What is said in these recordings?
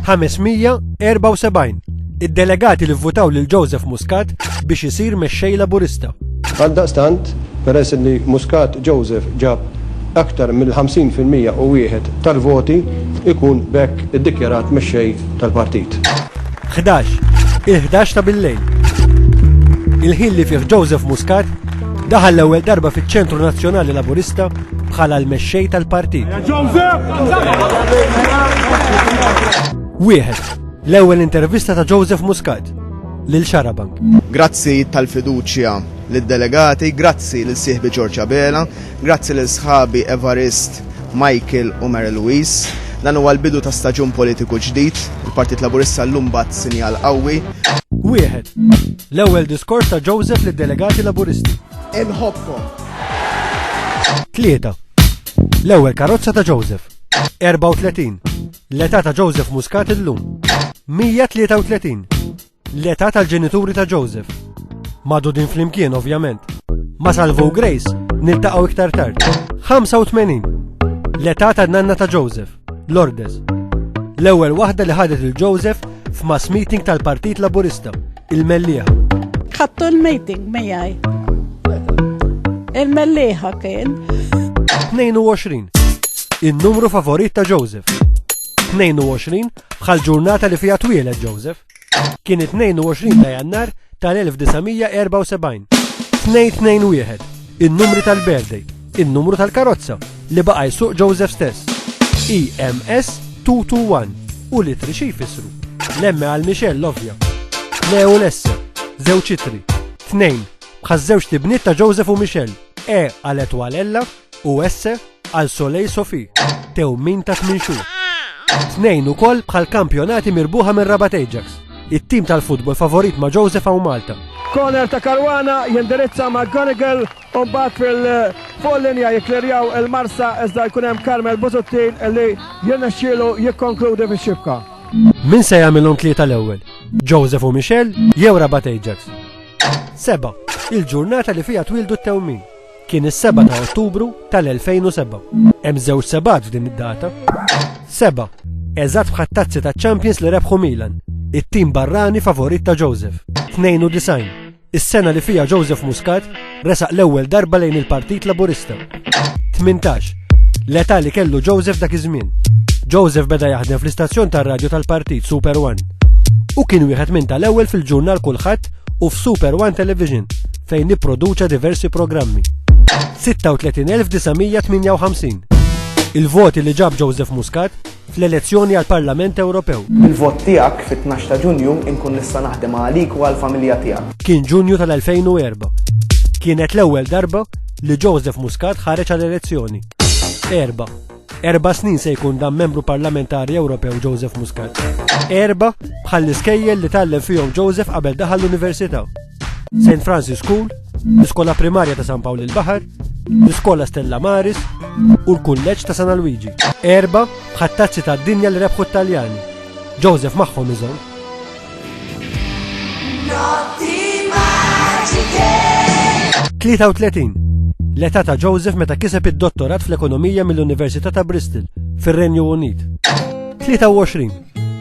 574 Id-delegati li vvutaw lil Joseph Muscat biex isir mexxej Laburista. Għaldaqstant, peress li Muscat Joseph ġab aktar mill-50% u wieħed tal-voti ikun bekk iddikjarat mexxej tal-partit. 11. Il-11 ta' bil-lejl. Il-ħin li fih Joseph Muscat Daħal l-ewwel darba fiċ-Ċentru Nazzjonali Laburista bħala l-mexxej tal-partit. Wieħed, l-ewwel intervista ta' Joseph Muscat lil Xarabank. Grazzi tal-fiduċja lid-delegati, grazzi lil sieħbi Ġorġa Bela, grazzi lil sħabi Evarist, Michael u Mary Louise. Dan huwa l-bidu ta' staġun politiku ġdid, il-Partit Laburista l-lum bat sinjal qawwi. Wieħed, L-ewwel diskors ta' Joseph lid-delegati Laburisti. Inħobbkom. Tlieta. L-ewwel karozza ta' Joseph. 34. L-età ta' Joseph Muscat illum. 133. L-età tal-ġenituri ta' Joseph. Madudin flimkien ovvjament. Ma salvu Grace niltaqgħu iktar tard. 85. L-età tan-nanna ta' Joseph. Lourdes. L-ewwel waħda li ħadet il Joseph f'mass meeting tal-Partit Laburista, il-Mellieħa. Ħattu l-meeting miegħi. Il-Mellieħa kien. 22. In-numru favorit ta' Joseph. 22 bħal ġurnata li fija twieled Joseph. Kien it-22 ta' Jannar tal-1974. 2-2-1, in-numri tal-birthday, in-numru tal-karozza li baqa' jsuq Joseph stess. EMS 221 u litri xi jfissru. L-emme għal Michelle l-ovvja. Le u l-S, żewġ itri. Tnejn, bħaż-żewġt ibniet ta' Joseph u Michelle. E għal Etwal Ella u esse għal Soleil Sofi, tewmin ta' tmien xhur. Tnejn ukoll bħal kampjonati mirbuħa minn Rabat Ajax, it-tim tal-futbol favorit ma' Joseph u Malta. Corner ta' Karwana jindirizza ma' Gonigal u mbagħad fil-fuq linja jikklerjaw il-Marsa iżda jkun hemm Carmel Busuttin li jirnexxielu jikkonkludi fix-xibka. Min se jagħmilhom tlieta l-ewwel? Joseph u Michel jew Rabat Ajax? Seba', il-ġurnata li fiha twildu t-tewmin. Kien is-7 ta' Ottubru tal-2007. Hemm żewġ sebat f'din id-data. Seba, eżatt bħat tazzi ta' Champions li rebħu Milan, it-tim barrani favorit ta' Joseph. 92, is-sena li fija Joseph Muscat resaq l-ewwel darba lejn il-Partit Laburista. 18, l-età li kellu Joseph dak iż-żmien. Joseph beda jaħdem fl-istazzjon tar-radju tal-Partit Super One u kien wieħed minn tal-ewwel fil-ġurnal kulħadd u f'Super One Television fejn nipproduċa diversi programmi. 36,958 Il-voti li ġab Joseph Muscat fl-elezzjoni għal Parlament Ewropew. Il-vot tiegħek fit-12 ta' Ġunju inkun nista' naħdem għalik u għall-familja tiegħek. Kien Ġunju tal-2004. Kienet l-ewwel darba li Joseph Muscat ħareġ għal elezzjoni. Erba. Erba snin se jkun dan membru parlamentari Ewropew Joseph Muscat. Erba bħall-iskejjel li tallem fihom Joseph qabel daħal l-università. St. Francis School, l-Iskola Primarja ta' San Pawl il-Baħar, l-Iskola Stella Maris u l-Kulleġġ ta' San Luigi. Erba ħattazzi ta' dinja li rebħu Taljani. Joseph magħhom iżomm. Notti maġike! 33. L-età ta' Joseph meta kiseb id-dottorat fl-ekonomija mill-Università ta' Bristol, fir-Renju Unit. 23.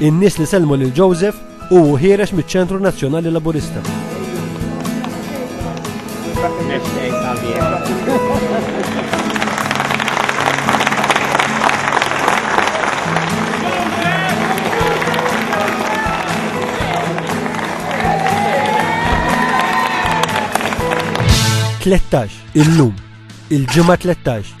In-nies li sellmu lil Joseph u ħierex miċ-Ċentru Nazzjonali Laburista. Tlettax, illum, il-ġimgħa 13